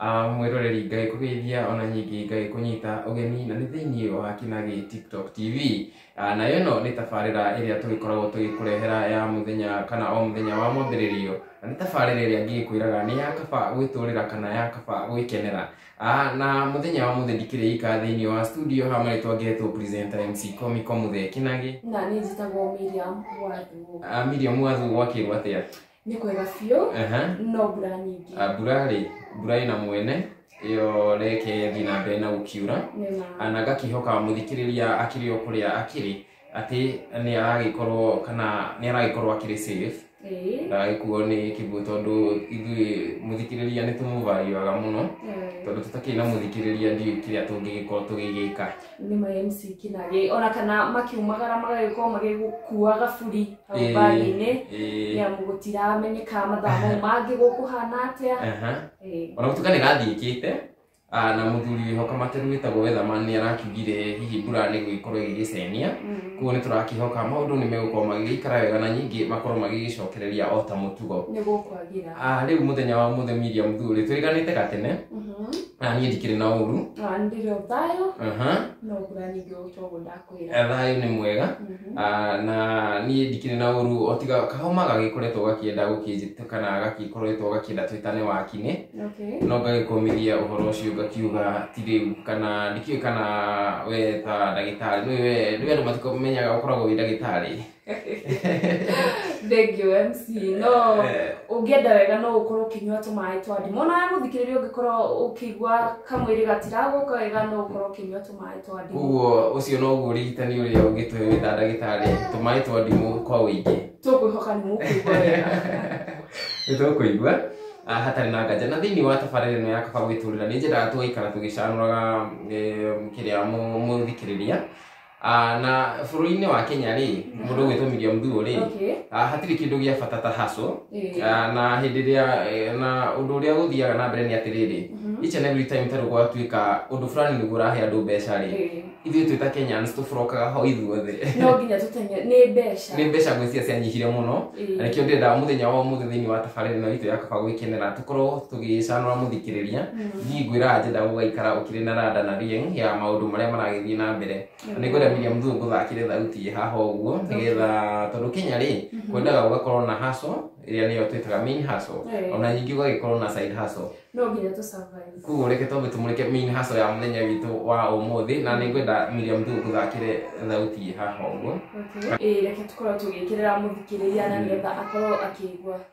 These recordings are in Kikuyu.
Ah, mwĩroreri ngagĩkũgeithia ona nyingĩ ngagĩkũnyita ũgeni na nĩ thĩinĩ wa kinagi tiktok tv Ah, nayo ĩno nĩ tabarĩra ĩrĩa tũgĩkoragwo tũgĩkũrehera ya mũthenya kana o mũthenya wa mwambĩrĩrio na nĩ tabarĩra ĩrĩa ngĩgĩkwĩraga nĩ ya kaba gwĩtũrĩra kana ya kaba gwĩkenera Ah, na mũthenya wa mũthĩ ndikĩrĩ ika thĩinĩ wa studio ha marĩtwa ngetwo presenter mc komiko mũthee kinagi na nĩ njĩtagwo Miriam Wathuo. Ah, Miriam wathu gwakĩrwo atĩa nĩ kwega biũ Aha. no mbura nyingĩ Ah, mbura rĩ mbura ĩna mwene ĩyo reke thiĩ na mbere na gũkiura nĩ ma Ah, na ngakihoka mũthikĩrĩria akĩrĩ o kũrĩa akĩrĩ atĩ nĩ aragĩkorwo kana nĩ aragĩkorwo akĩrĩ safe ĩĩ ndagagĩkuo nĩ kĩguũ tondũ ithuĩ mũthikĩrĩria nĩ tũmũvarĩaga mũno Eh, tondũ tũtakĩrĩ na mũthikĩrĩria ndiũĩ kĩrĩa tũngĩgĩkorwo tũgĩgĩka nĩ ma MC kinage ona kana makiumagara magagĩkorwo magĩgũkua gaburi hau Eh, mbaginĩ eh, nĩ amu gũtiramenyeka mathaa mau mangĩ gũkũhana atĩa aha. Eh, ona gũtuĩka nĩ gathiĩkĩte ah, na mũthuri wĩho kamateru wĩtagwo wethama nĩ arakiugire hihi mbura nĩ gũgĩkorwo ĩgĩgĩcenia mm, koguo nĩ tũrakihoka maũndũ nĩ megũkorwo magĩgĩikara wega na nyingĩ makorwo magĩgĩcokereria o ta mũtugo nĩ gũkwagĩra Ah, rĩu mũthenya wa mũthĩ miria mũthuri twĩganĩte gatene Mhm. na niĩ ndikĩrĩ na ũru Ah, ndĩrĩ ũthayo Aha. no kũranigĩ ũcogo ndakwĩra Eh, thayũ nĩ mwega Mhm. Ah, na niĩ ndikĩrĩ na ũru o tiga kahoma gagĩkoretwo gakĩenda gũkĩnjĩta kana gagĩkoretwo gakĩenda twĩtane wakinĩ Okay. no ngagĩkũmithia ũhoro ũcio ngakiuga ti rĩu kana ndikĩũĩ kana we ta ndagĩtarĩ nĩwe nĩwe andũ matikomenyaga ũkoragwo wĩ ndagĩtarĩ thengiå mc no Eh. ũngĩenda wega no ũkorwo ũkĩnyua tũmaĩ twa ndimũ ona we mũthikĩrĩria ũngĩkorwo ũkĩigua kamwĩrĩ gatiragũka wega no ũkorwo ũkĩnyua tũmaĩ twa ndimũ koguo ũcio noguo ũrigitani ũrĩa ũngĩtũhe wĩ ta ndagĩtarĩ tũmaĩ twa ndimũ kwa ũingĩ tũkwĩhoka nĩ mũkũigua wega nĩtũkũigua ah, hatarĩ na nganja na thĩinĩ wa tabarĩra ĩno ya kaba gwĩtũrĩra nĩ nyendaga tũgaikara tũgĩcanũraga em, kĩrĩa mũ- mũthikĩrĩria Ah, na bũrũri-inĩ wa kenya rĩ mũndũ ũgwĩtwo miriam thuo rĩ Okay. ah, hatirĩ kĩndũ gĩa bata ta haco Eh. Ah, na hĩndĩ ĩrĩa eh, na ũndũ ũrĩa gũthiaga na mbere nĩ atĩrĩrĩ each and every time tarĩ gwatuĩka ũndũ fulani nĩguo ũrahe andũ mbeca rĩ Eh. ithuĩ twĩ ta kenyans tũburokaga ho ithuothe no nginya tũtenge nĩ mbeca nĩ mbeca ngwĩciria cianyihire mũno Eh. na nĩkĩo ndĩrenda mũthenya wa ũmũthĩ thĩinĩ wa tabarĩra ĩno itũ ya kaba gwĩkenera korwo tũgĩcanũra mũthikĩrĩria thiĩ ngwĩraga njenda gũgaikara ũkĩrĩ na rada na rieng ya maũndũ marĩa maragĩthiĩ na mbere na nĩ ngwenda Miriam Thuo ngũthakĩre thauti ĩ haha ũguo nĩgetha tondũ Kenya rĩ kwendaga ũgakorwo na hustle ĩrĩa nĩyo twĩtaga main hustle Eh. ona ningĩ ũgagĩkorwo na side hustle no nginya tũ survive kuguo reke twambe tũmũrĩke main hustle ya mũthenya witũ wa ũmũthĩ na nĩ ngwenda Miriam Thuo ngũthakĩre thauti ĩ haha ũguo Okay. Ĩĩ, reke tũkorwo tũgĩkĩrĩra mũthikĩrĩria na nĩgetha akorwo akĩigua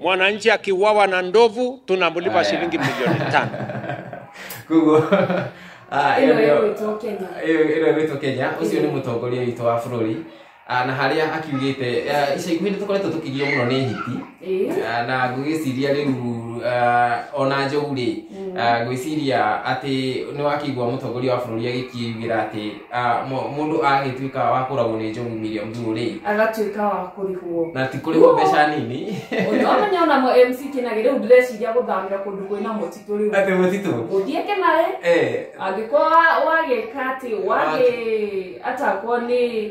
Mwananchi akiuawa na ndovu tunamlipa Haya. shilingi milioni tano. koguo ah, Ĩno ĩyo nĩyo- ĩgwĩtwo Kenya. ĩyo- ĩno ĩgwĩtwo kenya ũcio nĩ mũtongoria witũ wa bũrũri Ah, na harĩa akiugĩte ah, ica ikuhĩ nĩ tũkoretwo tũkĩgio mũno nĩ hiti Ĩĩ. Ah, na ngũgĩciria rĩu ah, ona njogu rĩ ah, ngwĩciria atĩ nĩ wakĩigua mũtongoria wa bũrũri agĩkiugĩra atĩ Ah, mu- mũndũ agĩtuĩka wa kũragwo nĩ njogu miriam thuo rĩ agatuĩka wa kũrĩhwo na ti kũrĩhwo mbeca nini ũndũ ũmwe nĩonamo mc kĩnagĩ rĩu ndĩreciria gũthamĩra kũndũ kwĩna mũtitũ rĩu atĩ mũtitũ gũthiĩ kĩnarĩ Eh, angĩkorwo wagĩka atĩ wagĩ atakwo nĩ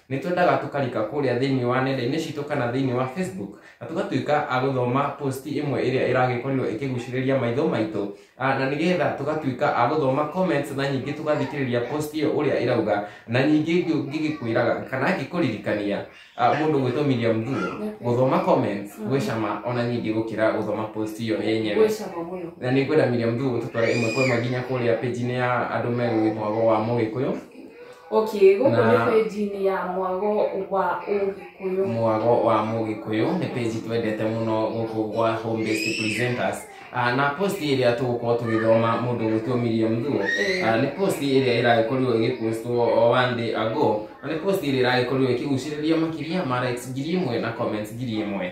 nĩ twendaga tũkarika kũrĩa thĩinĩ wa nenda-inĩ citũ kana thĩinĩ wa facebook na tũgatuĩka a gũthoma post ĩmwe ĩrĩa ĩragĩkorirwo ĩkĩgucĩrĩria maitho maitũ Ah, na nĩgetha tũgatuĩka a gũthoma comments na nyingĩ tũgathikĩrĩria post ĩyo ũrĩa ĩrauga na nyingĩ ngĩ- ngĩgĩkwĩraga kana ngĩkũririkania ah, mũndũ gwĩtwo Miriam Thuo gũthoma comments Mm. gwĩ cama ona nyingĩ gũkĩra gũthoma post ĩyo yenyewe gwĩ cama mũno na nĩ ngwenda Miriam Thuo tũtware ĩmwe kwa ĩmwe nginya kũrĩa page-inĩ ya andũ megũgĩthoma wa mũgĩkũyũ okay gũkũ nĩ Na- page-inĩ ya mwago wa ũgĩkũyũ mwago wa mũgĩkũyũ nĩ page twendete mũno gũkũ gwa home based presenters Ah, na post ĩrĩa tũgũkorwo tũgĩthoma mũndũ gwĩtwo Miriam Thuo Eh. Ah, nĩ post ĩrĩa ĩragĩkorirwo ĩgĩpostwo o one day ago na nĩ post ĩrĩa ĩragĩkorirwo ĩkĩgucĩrĩria makĩria ma likes ngiri ĩmwe na comments ngiri ĩmwe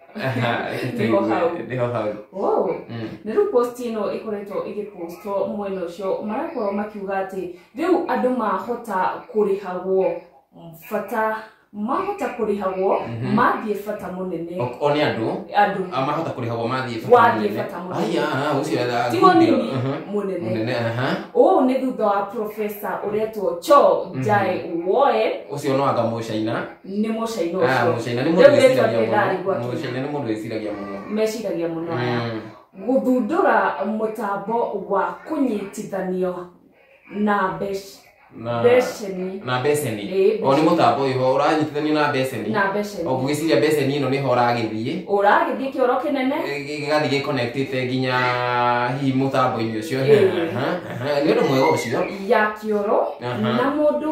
Aha, reke Nĩho tũigue, hau. nĩho hau wow Mm. na rĩu post ĩno ĩkoretwo ĩgĩpostwo mwena ũcio marakorwo makiuga atĩ rĩu andũ mahota kũrĩhagwo bata mahota kũrĩhagwo Mhm. mathiĩ bata mũnene O- o nĩ andũ andũ a mahota kũrĩhagwo mathiĩ Wathiĩ mũnene. bata mũnene. Ai, ah, ah, ũcio etha- tigo nini Mhm. mũnene mũnene aha. ũũ nĩ thutha wa profesa ũretwo cho jae woe ũcio no anga mũcaina nĩ mũcaina Ah, ũcio mũcaina nĩ mũndũ Rĩu rĩtwa wĩciragia rĩrĩa mũno. rĩgwakĩra. Mũcaina nĩ mũndũ wĩciragia mũno. meciragia mũno aya Mm. gũthundũra mũtambo wa kũnyitithanio na mbec- Na- beceni na beceni Ĩĩ, o nĩ mũtambo wĩho ũranyitithanio na beceni na beceni o ngũgĩciria beceni ĩno nĩho ũragĩthiĩ ũragĩthiĩ kĩoro kĩnene gĩgathiĩ gĩconnectĩte nginya hihi mũtambo-inĩ ũcio Ĩĩ. Aha, aha. nĩ ũndũ mwega ũcio ya kĩoro Aha. na mũndũ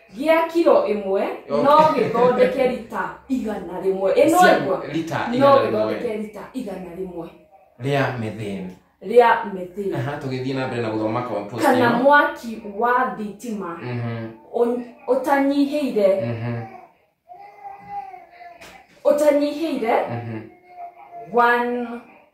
gĩa kiro ĩmwe no gĩthondeke rita igana rĩmwe ĩno Cia- ĩgwa rita no igana rĩmwe gĩthondeke rita igana rĩmwe rĩa metheni rĩa metheni Aha, tũgĩthiĩ na mbere na gũthoma compost kana ĩno. mwaki wa thitima Mhm, ũ- ũtanyihĩire mhm, ũtanyihĩire mhm. 1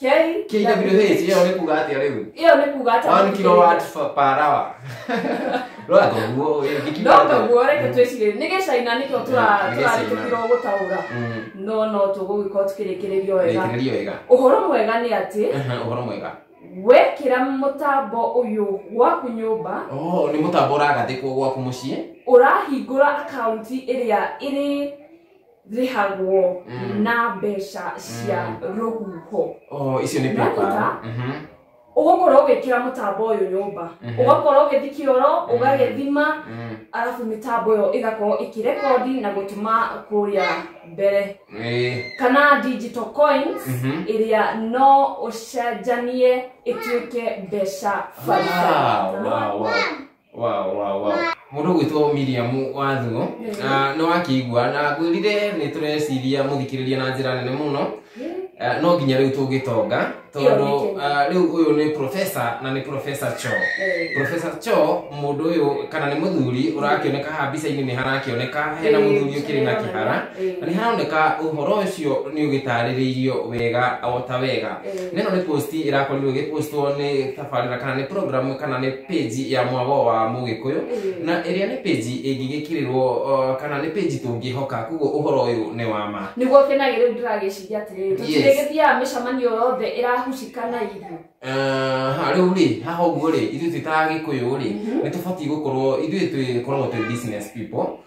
K- KWH ĩyo nĩ kuga atĩa rĩu ĩyo nĩ kuga one atĩa kilowatt fa- per hour rora koguo ĩyo nĩ kilowatt. no kaguo reke Mm. twĩcirĩrie nĩ gĩcaina nĩkĩo tũra- Nĩ Gĩcaina. tũrarĩtũkĩrwo gũtaũra Mm, no no tũgũgĩkorwo tũkĩrĩkĩrĩrio wega rĩkĩrĩrio wega ũhoro mwega nĩ atĩ Aha, ũhoro mwega wekĩra mũtambo ũyũ gwaku nyũmba Oh, nĩ mũtambo ũragathĩkwo gwaku mũciĩ ũrahingũra akaunti ĩrĩa ĩrĩ rĩhagwo Mm. na mbeca cia Mm. rũhuho Oh, icio nĩ Nĩaruta. PayPal. Mhm. ũgũkorwo ũgĩkĩra mũtambo ũyũ nyũmba Mhm. ũgakorwo ũgĩthi kĩoro ũgagĩthima Mm. arabu mĩtambo ĩyo ĩgakorwo ĩkĩrekondi na gũtũma kũrĩa mbere Eh, kana digital coins Mhm. ĩrĩa no ũcenjanie ĩtuĩke mbeca baribari wow, wow, wow. Wow, wow, wow. Mũndũ gwĩtwo Miriam Wathuo na nĩ wakĩigua na ngwĩrire nĩ tũreciria mũthikĩrĩria na njĩra nene mũno Eh, no nginya rĩu tũngĩtonga tondũ Ĩyo eh, rĩu ũyũ nĩ professor na nĩ professor Cho Eh. professor Cho mũndũ ũyũ kana nĩ mũthuri ũrakĩoneka haha mbica-inĩ nĩ harakĩoneka hena Eh, mũthuri ũkĩrĩ na kĩhara Eh. na nĩ haroneka ũhoro ũcio nĩ ũgĩtarĩrĩirio wega o ta wega Eh. na ĩno nĩ posti ĩrakorirwo ĩgĩpostwo nĩ tabarĩra kana nĩ program kana nĩ page ya mwago wa mũgĩkũyũ Mm. na ĩrĩa nĩ page ĩngĩgĩkĩrĩrwo uh, kana nĩ page tũngĩhoka koguo ũhoro ũyũ nĩ wa ma niguo kenagä rä u ndä ragäciria atä rä rä Yes. gä thiaga mä cemanio yothe ä rahucika na irio ha rä u rĩ haha å guo rä ithuĩ twä ta gä kå yå rä nä tå batiä gå korwo ithuĩ twä koragwo twä business people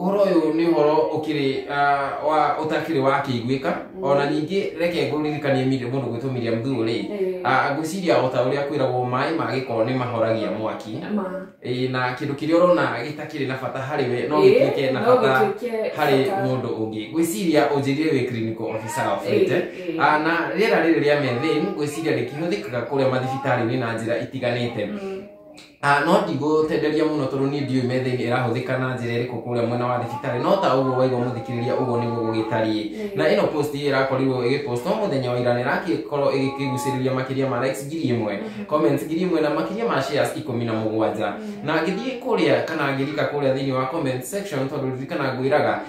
ũhoro ũyũ nĩ ũhoro ũkĩrĩ ah, wa ũtakĩrĩ wa kĩiguĩka ona ningĩ reke ngũririkanie Miri- mũndũ gwĩtwo Miriam Thuo rĩ Ah, ngwĩciria o ta ũrĩa kwĩragwo maĩ ma gĩko nĩ mahoragia mwaki ma Ĩĩ, na kĩndũ kĩrĩa ũrona gĩtakĩrĩ na bata harĩ we no Ĩĩ, gĩtuĩke na no bata gĩtuĩke harĩ bata. mũndũ ũngĩ ngwĩciria ũnjĩrire wĩ clinical officer wa Fleete Ĩĩ, ĩĩ. Ah, na rĩera rĩrĩ rĩa methane ngwĩciria rĩkĩhũthĩkaga kũrĩa mathibitarĩ-inĩ na njĩra itiganĩte Ah, no ndigũtenderia mũno tondũ niĩ ndiũĩ metha-inĩ ĩrahũthĩka na njĩra ĩrĩkũ kũrĩa mwena wa thibitarĩ no ta ũguo waigua mũthikĩrĩria ũguo nĩguo gũgĩtariĩ na ĩno post ĩyo ĩrakorirwo ĩgĩpost no mũthenya wa ira nĩrakorwo ĩgĩkĩgucĩrĩria makĩria ma likes ngiri ĩmwe comments ngiri ĩmwe na makĩria ma shares ikũmi na mũgwanja na ngĩthiĩ kũrĩa kana ngĩrika kũrĩa thĩinĩ wa comment section tondũ ririkana ngwĩraga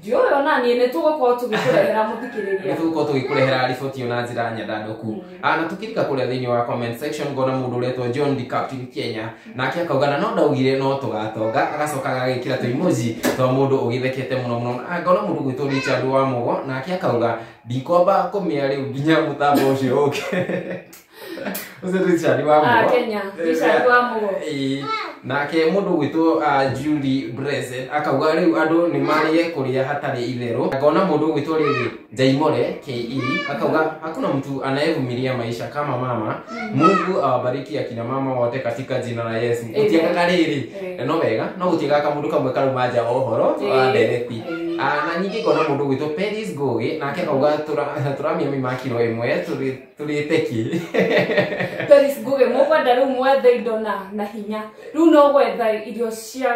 ndiũĩ ona niĩ nĩ tũgũkorwo tũgĩkũrehera mũthikĩrĩria nĩtũgũkorwo tũgĩkũrehera riboti ĩyo na njĩra nyandandũku na tũkĩrika kũrĩa thĩinĩ wa comment section ngona mũndũ ũretwo john the captain kenya nake akauga na no ndaugire no tũgatonga agacoka agagĩkĩra tũimoji twa mũndũ ũgĩthekete mũno mũno Na ngona mũndũ gwĩtwo richard wa mũgo nake akauga ndikomba kũmĩa rĩu nginya mũtambo ũcio ũke Richard wa Ah, Mugo. Kenya. Richard wa Mugo. Ĩĩ. nake mũndũ gwĩtwo ah, Julie Breze akauga rĩu andũ nĩ marĩe kũrĩa hatarĩ itherũ ngona mũndũ gwĩtwo rĩrĩ Jaimore KE akauga hakuna mtu anayevumilia maisha kama mama Mungu awabariki akina mama wote katika jina la Yesu Amen. gũtiagaga rĩrĩ Amen. no wega no gũtiagaga mũndũ kamwe karuma nja ohoro Ĩĩ. wa ndereti Ĩĩ. Ah, na ningĩ ngona mũndũ gwĩtwo Peris Ngũgĩ nake akauga tũra- tũramia mĩmakiro ĩmwe tũrĩ turite ki Doris Nguge mũkwenda rĩu mwethe indo na na hinya rĩu no gwetha irio cia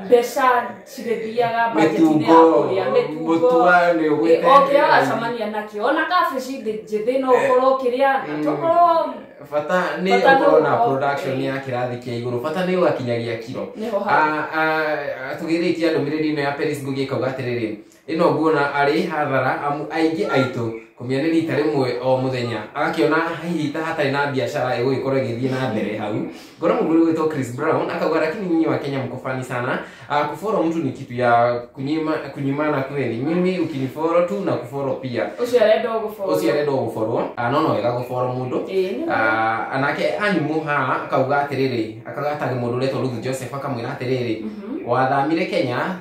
mbeca cigĩthiaga mbajetinĩ ya kũrĩa mĩtungo mũtua nĩ ũgwĩte oke agacamania nakĩo ona kabici ndĩ njĩthĩ no ũkorwo ũkĩrĩa na Mm. tokorwo bata nĩ Bata nĩ ũkorwo na ũkorwo- production ya kĩrathi kĩa igũrũ bata nĩ ũgakinyagia kiro nĩho hau Ah, ah, ah, tũgĩrĩtie ndũmĩrĩri ĩno ya Paris Ngugi ĩkauga atĩrĩrĩ Ĩno nguona arĩ hathara amu aingĩ aitũ kũmĩa nĩ rita rĩmwe o mũthenya agakĩona hihi ta hatarĩ na biacara ĩgũgĩkorwo ĩgĩthiĩ na mbere hau ngona mũndũ ũrĩa wĩtwo Chris Brown akauga lakini nyinyi wa Kenya mko funny sana uh, kufollow mtu ni kitu ya kunyima kunyimana kweli mimi ukinifollow tu na kufollow pia Ũcio arenda ũgũbora. ũcio arenda gũborwo no no wega gũborwo mũndũ Ĩĩ, nĩ Ah, anake animu ha akauga atĩrĩrĩ akauga atari mũndũ ũretwo Ruth Joseph akamwĩra atĩrĩrĩ wathamire Kenya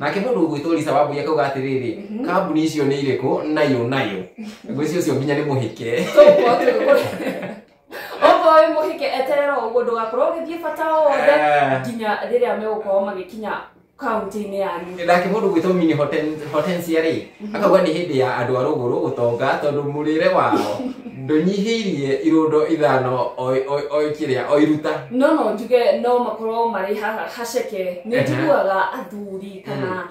nake mũndũ ũgwĩtwo lisa wambui akauga atĩrĩrĩ Mhm. kambuni icio nĩ irĩkũ nayo nayo ngwĩci ũcio nginya nĩ mũhĩke okorwo wĩ mũhike eterera ũguo ndũgakorwo ũgĩthiĩ bata o wothe Eh. nginya rĩrĩa megũkorwo magĩkinya kaunti-inĩ yanyu nake mũndũ ũgwĩtwo mini Horten- hortensia rĩ akauga nĩ hĩndĩ ya andũ a rũgũrũ gũtonga tondũ mũrĩre wao ndũnyihĩirie irũndo ithano o- o- o kĩrĩa o iruta no no njuge no makorwo marĩ ha- haceke nĩ Ehe. njiguaga athuri kana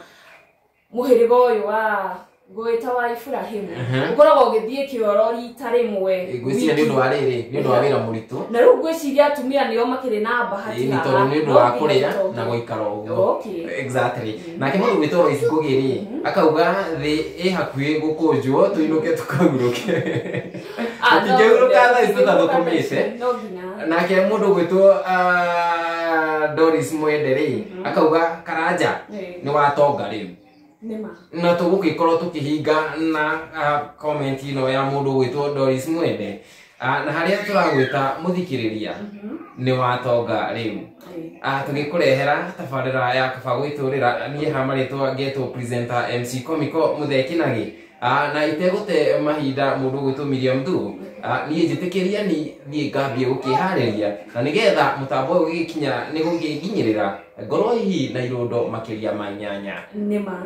mũhĩrĩga ũyũ wa ngũĩta wa iburahimu Ehe. ũkoragwo ũgĩthiĩ kĩoro rita rĩmwe ngwĩciria nĩ ũndũ wa rĩrĩ nĩ ũndũ wa wĩra mũritũ na rĩu ngwĩciria atumia nĩo makĩrĩ na bahati Ĩĩ, nĩ tondũ nĩ ũndũ wa kũrĩa na gũikara ũguo Okay. exactly nake mũndũ gwĩtwo ibukugi rĩ akauga thĩ ĩ hakuhĩ gũkũnjwo tũinũke tũkahurũke Ah, no, Tũtingĩhurũka no, thaa ici tũtathũkũmĩte. no nginya. nake mũndũ gwĩtwo ah, doris mwende rĩ akauga karanja Eh, nĩ watonga rĩu nĩma. na tũgũgĩkorwo tũkĩhinga na ah, comment ĩno ya mũndũ gwĩtwo doris mwende Ah, na harĩa tũragwĩta mũthikĩrĩria nĩ watonga rĩu Ah, tũgĩkũrehera tabarĩra ya kaba gwĩtũrĩra niĩ ha marĩtwa ngetwo presenter mc comico mũthekinagi Ah, na itegũte mahinda mũndũ gwĩtwo miriam du Ah, niĩ njĩtĩkĩria ni thiĩ ngambie gũkĩharĩria na nĩgetha mũtambo ũyũ ũgĩkinya nĩ gũkĩnginyĩrĩra ngorwo hihi na irũndo makĩria ma nyanya nĩ ma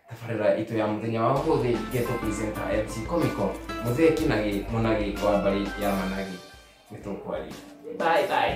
Tabarĩra itũ ya mũthenya wa ũmũthĩ ngetwo presenter MC Comico mũthĩki na gĩ mũnagĩ wa mbarĩ ya managĩ nĩ tũkwaria bye bye